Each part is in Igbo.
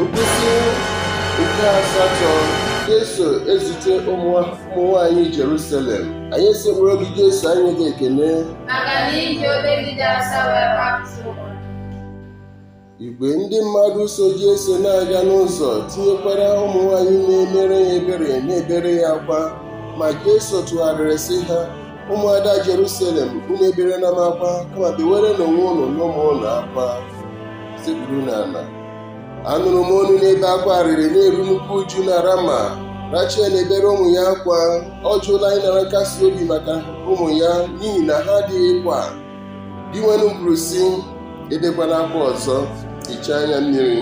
Nkwụsị nke asatọ Jesu ezute ụmụ nwaanyị Jerusalem anyị esekpuoro gị Jesu enye gị ekene maka na i ji obe gị dị asọ wee gbapụta ụwa. Igwe ndị mmadụ so Jesu na-aga n'ụzọ tinyekwara ụmụ nwaanyị na-emere ya ebere na-ebere ya akwa ma Jesu tụgharịrị sị ha ụmụada Jerusalem unu eberena m akwa kama bewerenụ onwe unu na ụmụ unu akwa sekpuru n'ala anụrụ m onu na-ebe akwa arịrị na-eru nnukwu uju na Rama Rachel na-ebere ụmụ ya akwa ọ jụla ịnara nkasi obi maka ụmụ ya n'ihi na ha adịghịkwa Dinwenụ kwuru sị ebekwana akwa ọzọ hichaa anya mmiri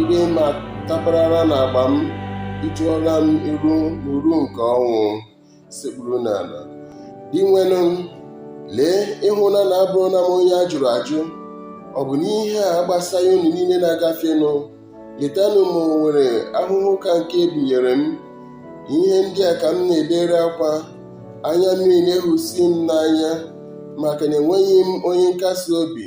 ire m ataparala n'agba m ị tụọla m iru n'uru nke ọnwụ sekpuru n'ala Dinwenụ m lee ị hụla na abụrụla m onye a jụrụ ajụ ọ bụ na ihe a agbasaghị unu niile na-agafenụ letanụ ma o nwere ahụhụ ka nke e binyere m ihe ndị a ka m na-ebere akwa anya mmiri na-ehusi m n'anya maka na enweghị m onye nkasi obi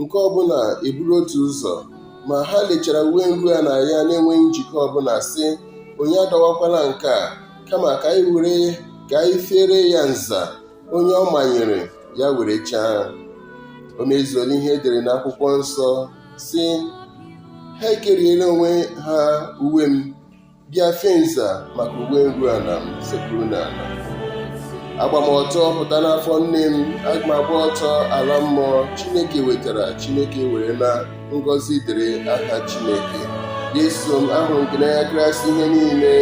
nke ọbụla eburu otu ụzọ ma ha lechara uwe nru ana ya na-enweghị njikọ ọbụla sị onye adọwakwala nke a kama ka anyị fere ya nza onye ọ manyere ya werechaa o mezuola ihe e dere n'akwụkwọ nsọ sị ha ekeriela onwe ha uwe m bịa fee nza maka uwe nru ala m sekpuru n'ala agba m ọtọ pụta n'afọ nne m aga m agba ọtọ ala mmụọ chineke wetara chineke werena ngọzi dịrị aha chineke Jesu m ahụrụ m gị n'anya karịsịa ihe niile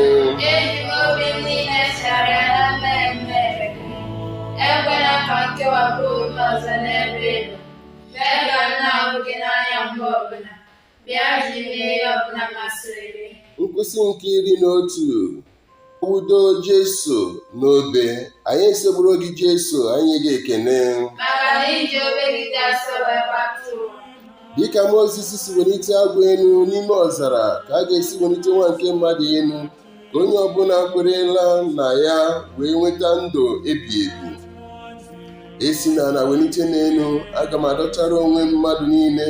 Eji m obi m niile chegharịa na m mehiere gị ekwela ka m kewapụ onwe m ọzọ n'ebe ị nọ mee ka m na-ahụ gị n'anya mgbe ọbụla bịa ji m mee ihe ọbụla masịrị gị nkwụsị nke iri na otu akpọdo Jesu n'obe anyị esekpuoro gị Jesu enye gị ekene maka na i ji obe gị dị asọ wee gbapụta ụwa dịka Mozis si welite agwọ elu n'ime ọzara ka a ga-esi welite nwa nke mmadụ elu ka onye ọbụla kwerela na ya wee nweta ndụ ebi ebi e si n'ala welite m elu aga m adọtara onwe m mmadụ niile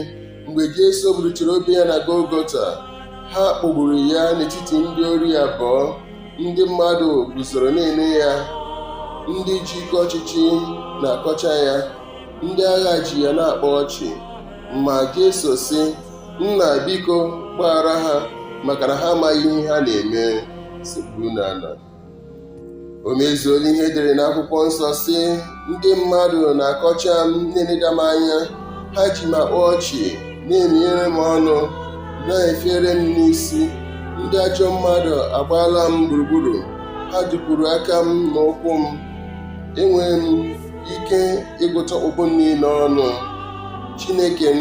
mgbe Jesu buruchara obe ya na Golgota ha kpọgburu ya n'etiti ndị ori abụọ ndị mmadụ guzoro na-ele ya ndị ji ike ọchịchị na-akọcha ya ndị agha ji ya na-akpa ọchị ma Jesu sị nna biko gbaghara ha maka na ha amaghị ihe ha na-eme sekpuru n'ala o mezuola ihe edere n'akwụkwọ nsọ sị ndị mmadụ na-akọcha m na-eleda m anya ha ji m akpa ọchị na-eminyere m ọnụ na-efere m n'isi ndị ajọ mmadụ agbaala m gburugburu ha dupuru aka m na ụkwụ m enwere m ike ịgụta ọkpụkpụ niile ọnụ chineke m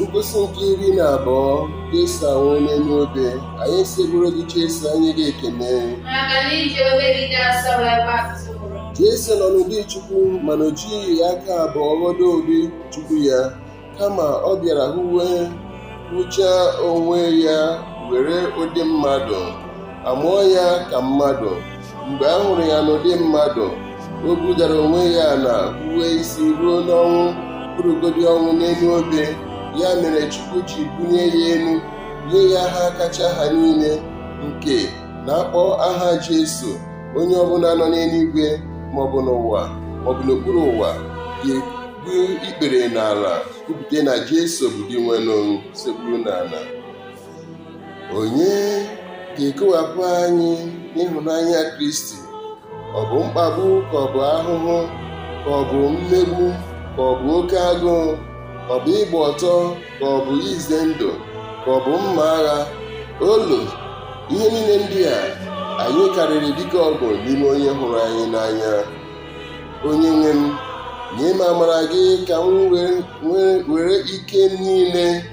Nkwụsị nke iri na abụọ Jesu anwụọ n'elu obe anyị esekpuoro gị Jesu anyị enye gị ekene Jesu nọ n'ụdị Chukwu mana o jighị aka abụọ ghọdo ụdị Chukwu ya kama ọ bịara hụwe hụchaa onwe ya were ụdị mmadụ a mụọ ya ka mmadụ mgbe a hụrụ ya n'ụdị mmadụ o budara onwe ya ala rube isi ruo n'ọnwụ bụrụgodi ọnwụ n'elu obe ya mere Chukwu ji bulie ya elu nye ya aha kacha aha niile nke na a kpọọ aha Jesu onye ọbụla nọ n'eluigwe maọbụ n'ụwa maọbụ n'okpuru ụwa ga-egbu ikpere n'ala kwupụta na Jesu bụ Dinwenụ sekpuru n'ala onye ga-ekewapụ anyị n'ịhụnanya Kristi ọ bụ mkpagbu ka ọ bụ ahụhụ ka ọ bụ mmegbu ka ọ bụ oke agụụ ka ọ bụ ịgba ọtọ ka ọ bụ ize ndụ ka ọ bụ mma agha olo ihe niile ndị a anyị karịrị dike ọgụ n'ime onye hụrụ anyị n'anya onye nwe m nye m amara gị ka m were ike m niile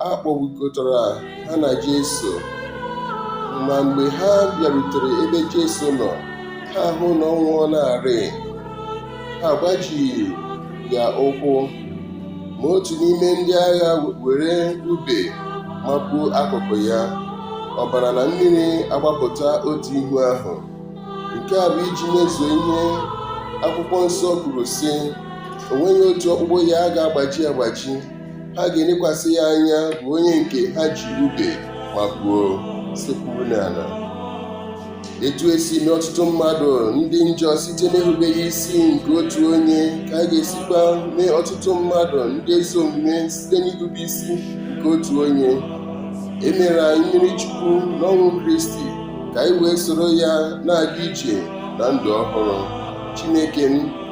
A kpọgbukọtara ha na Jesu. Ma mgbe ha bịarutere ebe Jesu nọ, ha hụ na ọ nwụọlarị. Ha agbajighị ya ụkwụ. Ma otu n'ime ndị agha were ube mapuo akụkụ ya, ọbara na mmiri agbapụta otu ihu ahụ. Nke a bụ iji mezuo ihe akwụkwọ nsọ kwuru, sị, O nweghị otu ọkpụkpụ ya a ga-agbaji agbaji. ha ga-elekwasị ya anya bụ onye nke ha ji ube mapuo sekpuru n'ala etu e si mee ọtụtụ mmadụ ndị njọ site n'erubeghị isi nke otu onye ka a ga-esikwa mee ọtụtụ mmadụ ndị ezi omume site n'irube isi nke otu onye e mere anyị mmiri chukwu n'ọnwụ kristi ka anyị wee soro ya na-aga ije na ndụ ọhụrụ chineke m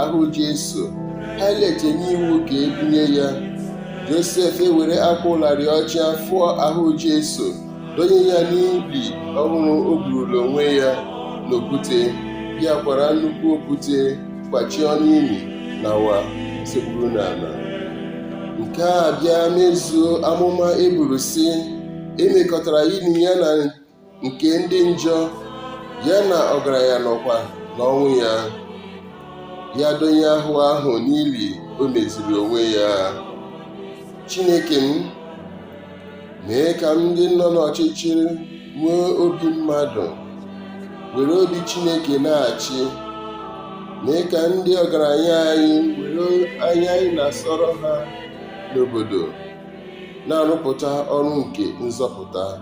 ahụ Jesu Pailet enye iwu ka e bunye ya Josef ewere akwa ụlarị ọcha fụọ ahụ Jesu donye ya n'ili ọhụrụ o gburula onwe ya n'okwute ya kwara nnukwu okwute kwachie ọnụ ili nawa sekpuru n'ala nke a bịa mezuo amụma e buru sị e mekọtara ili ya na nke ndị njọ ya na ọgaranya nọkwa n'ọnwụ ya ya donye ahụ ahụ n'ili o meziri onwe ya Chineke m mee ka ndị nọ n'ọchịchịrị nwee obi mmadụ were obi Chineke na-achị mee ka ndị ọgaranya anyị were anya anyị na-asọrọ ha n'obodo na-arụpụta ọrụ nke nzọpụta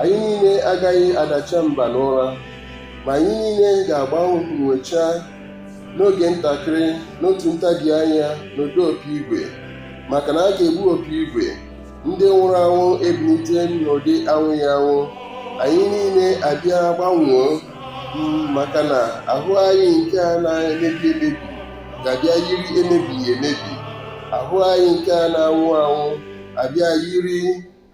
anyị niile agaghị adacha mba n'ụra ma anyị niile ga-agbanwecha n'oge ntakịrị n'otu ntabi anya n'ụda opi igwe maka na a ga-egbu opi igwe ndị nwụrụ anwụ ebilite n'ụdị anwụghị anwụ anyị niile abịa gbanwoo maka na ahụ anyị nke a na-emebi emebi ga-abịa yiri emebighị emebi ahụ anyị nke a na-anwụ anwụ abịa yiri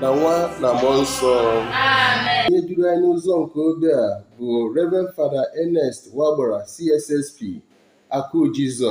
na nwa na mmụọ nsọ onye duru anyị n'ụzọ nke obe a bụ Reverend Fada Ernest Wagbara CSSP Akụ Jizọs